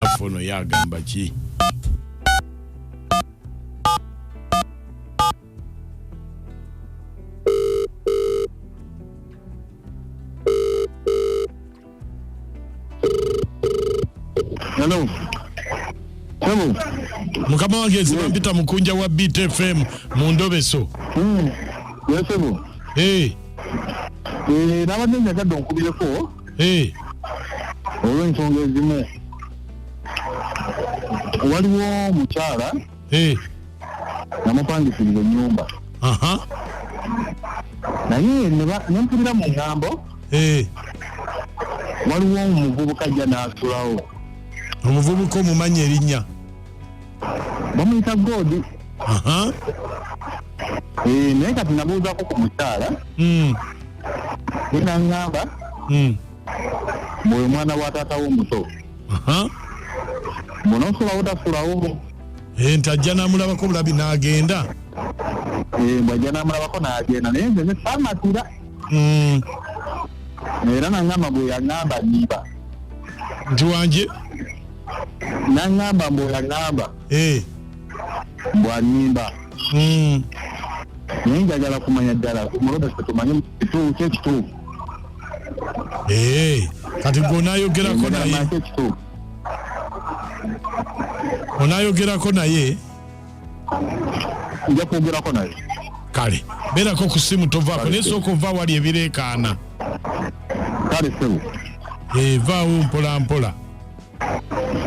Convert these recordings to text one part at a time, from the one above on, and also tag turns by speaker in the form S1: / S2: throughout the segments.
S1: naffe ono yagamba
S2: ki mukama
S1: wange zibampita mukunja wa btfm mu ndobeso hmm.
S2: yesebo eh. eh, nabadde njagadde onkubireko olw'ensonga ezimu waliwo omukyala namupangisiza enyumba naye nempulira mu ngambo waliwo omuvubuka ajja n'asulawo omuvubuka
S1: omumanyi erinnya
S2: bamuyita goodi eh, naye kati nabuuzako ku mukyala hmm. enaŋamba hmm. bwe mwana wa taata wo omuto munosulawo tasulawo eh, nti ajja
S1: namulabako bulabi nagenda eh,
S2: bwajja namulabako nagenda naye nze nesamatira hmm. era naŋamba gwe yaŋamba niba nti
S1: wanje
S2: naŋŋamba mbu oyaŋŋamba eh. mbu annimba hmm. naye njagala kumanya ddala mulobe setumanye kituufu kyekituufu eh,
S1: kati gwe onayogerako naye onayogerako naye
S2: nja kwogerako naye kale
S1: beerako ku simu tovaako naye sooka ova wali ebireekaana
S2: kale sebu evaawo
S1: eh, mpolampola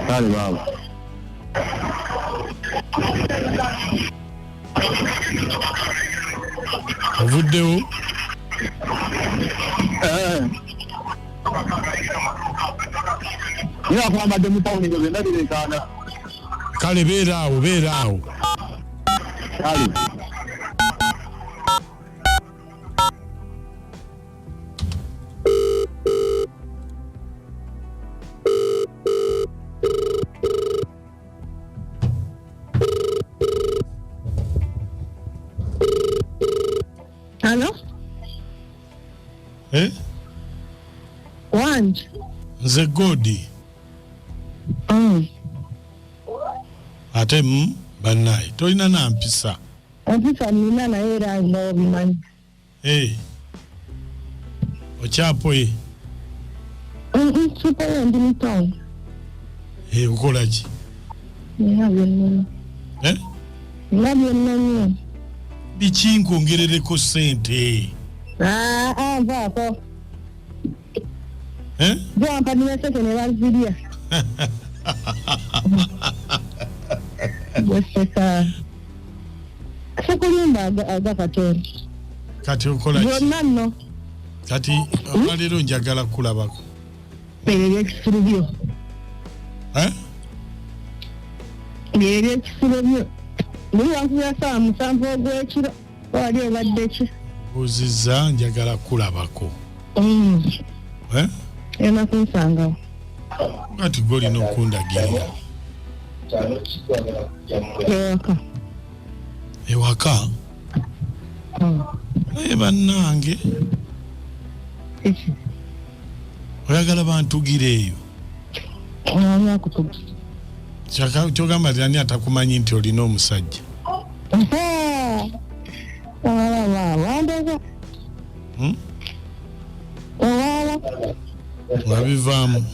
S2: kale baaba
S1: ovuddewo eh.
S2: naye akwambadde mu tawuni ezo zonna bireekaana kale
S1: beera awo beera awo
S2: kale
S3: Halo? Eh? Wanji? Nze Godi.
S1: Mm. Ate mm, banaye tolina nampisa. Ofisa
S3: nina naye era nga obimanyi. Hey.
S1: Okyapoye. Mm,
S3: Kipoye ndi mu town. Hey,
S1: ukola ki?
S3: Nina byonna. Eh? Nina byonna nnyo. Biki
S1: nkwongerereko ssente? Ah, ah,
S3: vaako. eh? gwampanira sente ne bazirya gweseka sikulimba aga katonda kati
S1: okola byonna nno
S3: kati
S1: olwaleero njagala kukulabako ebyo
S3: ebyekisiru byo eh? ebyo ebyekisiru byo buli wankubira saawa musanvu ogwekiro wali obadde ki buuzizza
S1: njagala kulabako mm. eh?
S3: ena kunsangawo kati
S1: golina okundagirira ewaka ewaka mm. naye bannange oyagala bantugire eyo kyogamba ti ani atakumanyi nti olina omusajja hmm? wabivaamu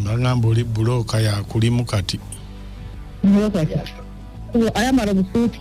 S1: bagamba hmm, oli bulooka yakulimu kati
S3: ayambala obusuuti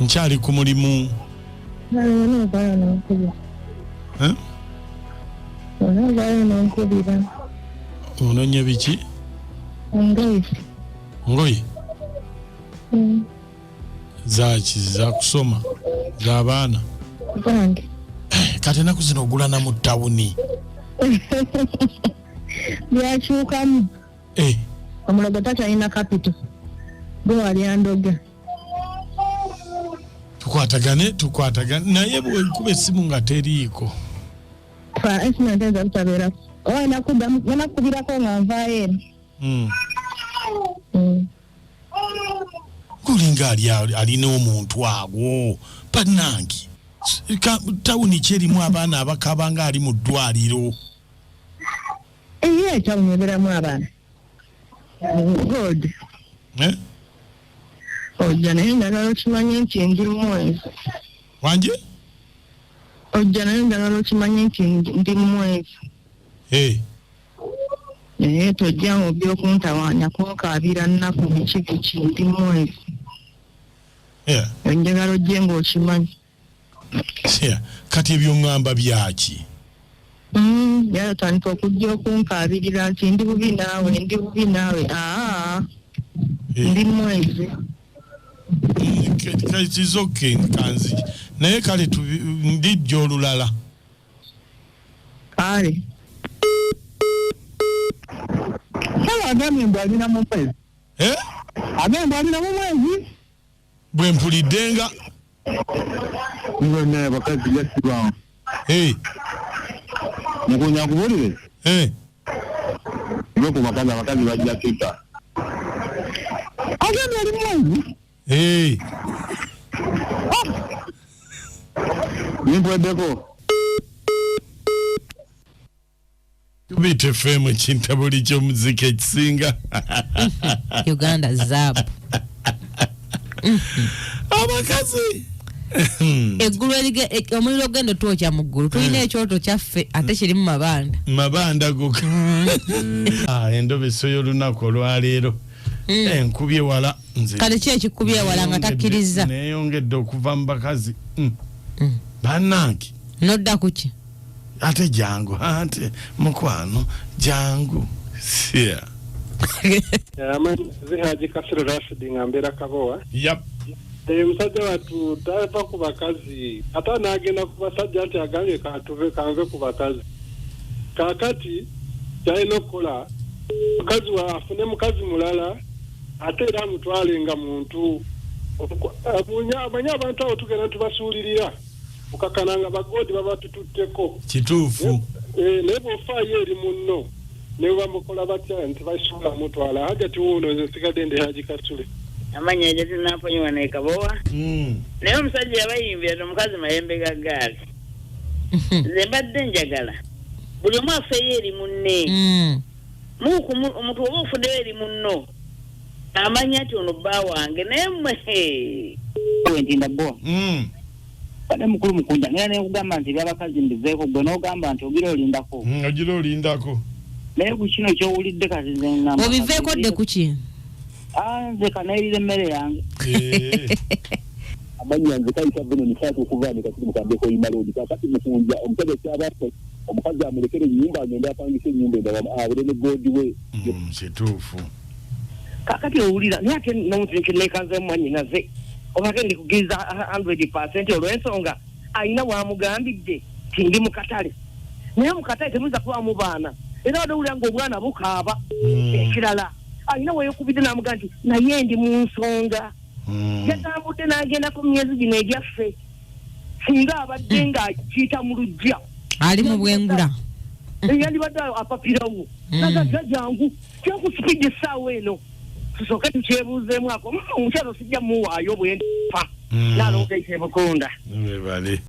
S1: nkyali ku mulimu ononya biki ngoye mm. zaki zakusoma zabaana eh, kati enaku zino ogulana mu tawuni
S3: byakyukamu Eh. omulogo takyalina kapito gwe wali andoga
S1: tukwatagane tukwatagane naye bwekuba esimu nga teriiko fa
S3: esimu nteeza butabeerako oba enakubirako nga nvaayo eno hmm.
S1: hmm. gulinga alina omuntu agwo banange tawuni kyerimu abaana abakaba nga ali mu ddwaliro Eye
S3: ekyamuberamu abaana god eh? ojja naye njagala okimanye nti ndi mumwezi wangi ojja naye njagala okimanye nti ndi mumwezi eh. naye tojja mu byokuntawaanya kunkaabira nnaku biki biki ndi mumwezi eh. njagala ojje ngaokimanyi
S1: kati ebyo ngamba byaki mm, yatandika
S3: okujja okunkaabirira nti ndi bubi naawe ndi bubi naawe aa eh. ndi mwezi
S1: kizoke nkanzi naye kale ndijja olulala
S3: kale
S2: kale agambye mbu alina mu mwezi eh? agambye mbu alina mu mwezi bwe
S1: mpulidde nga naye
S2: abakazi gasibaawo mukunya akubulire ve ku bakazi abakazi bajja tuta agenda ali mwangu nimpweddeko
S1: Beat FM ekintabuli ky'omuziki ekisinga
S4: Uganda zaabu
S1: abakazi
S4: eggulu omuliro ogenda otwokya mu ggulu tulina hmm. ekyoto kyaffe ate kirimu mabanda mabanda goka hmm.
S1: ah, endobeso y'olunaku olwaleero hmm. enkubye eh, wala nze kale ki ekikubye
S4: wala nga takkirizza neyongedde okuva
S1: mu bakazi banange nodda
S4: kuki ate jangu
S1: ate mukwano jangu yeah. amanyi
S5: zihaji kasiro rashidi nga mbeera kabowa yep. Eh, musajja watu tava ku bakazi ate anagenda ku basajja nti agambye katuve kanve ku bakazi kakati kyalina okukola mukazi wa afune mukazi mulala ate era amutwale nga muntu amanye abantu abo tugenda tubasuulirira okakana nga bagodi babatututteko kituufu
S1: eh, naye bwofaayo
S5: eri munno naye bamukola batya nti basobola mutwala hajati wuuno nze nsigadde ndi haji kasule amanyi ejo
S6: tinamponyiwa nekabowa hmm. naye omusajja yabayimbira ti omukazi mayembe ga gaali hmm. nze mbadde njagala buli omu afeeyo eri munne hmm. muku omuntu oba ofuddeyo eri munno amanya nti ono bba wange naye mwe nti nabowa
S2: kade mukulu mukunda naye naye kugamba nti byabakazi mbiveeko gwe n'ogamba nti ogira olindako mm, ogira olindako
S1: naye ku
S2: kino kyowulidde kati nze ngamba obiveeko dde ku ki
S4: ah, nze
S2: kanayirira emmere yange eh.
S7: amanya nze kayita vino nisaatu okuva ne kati mukambeko imaloodi kakati mukunja omusajja kyabako omukazi amulekere enyumba agende apangisa enyumba endala abere ne goodi we mm, kituufu
S2: kakati owulira naye ate nomutinki nekanze mumwanyinaze obake ndikugiriza hundred percent olwensonga alina wamugambidde ti ndi mukatale naye mukatale temuyinza kubamu baana era wade owulira nga obwana bukaaba hmm. ekirala alina weyokubidde namugaa nti naye ndi mu nsonga hmm. yatambudde nagenda ku myezi gino egyaffe singa abadde hmm. nga akiyita mu lujja ali mu bwengula
S4: eh, yandibadde
S2: apapirawo hmm. nagaga jangu kyakusipidi essaawa eno tusooke tukyebuuzeemu ako hmm, omukyalo sijja muwaayo bwenfa nalonga ekyebukonda